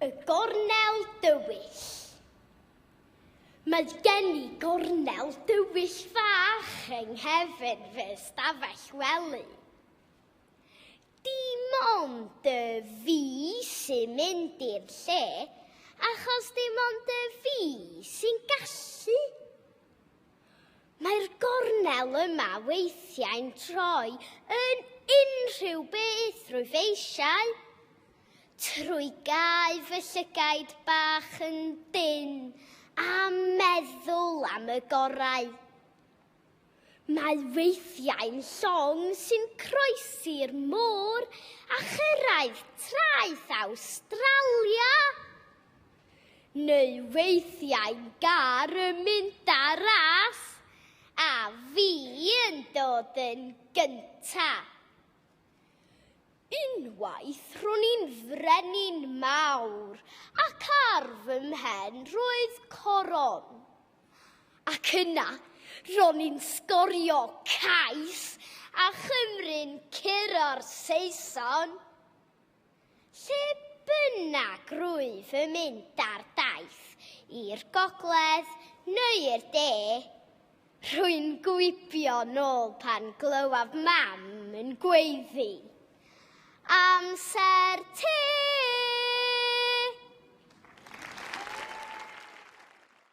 Y gornel dywyll. Mae gen i gornel dywyll fach yng nghefn fy stafell wely. Dim ond y fi sy'n mynd i'r lle, achos dim ond y fi sy'n gallu. Mae'r gornel yma weithiau'n troi yn unrhyw beth drwy feisiau, trwy gau fy llygaid bach yn dyn a meddwl am y gorau. Mae weithiau'n llong sy'n croesi'r môr a chyrraedd traeth Awstralia. Neu weithiau gar yn mynd â ras, a fi yn dod yn gynta. Unwaith ro'n i'n frenin mawr ac ar fy mhen roedd coron. Ac yna ro'n i'n sgorio cais a chymru'n curo 'r Saeson. Lle bynnag rwyf yn mynd ar daith, i'r gogledd neu i'r de, rwy'n gwibio nôl pan glywaf mam yn gweiddi, Amser te!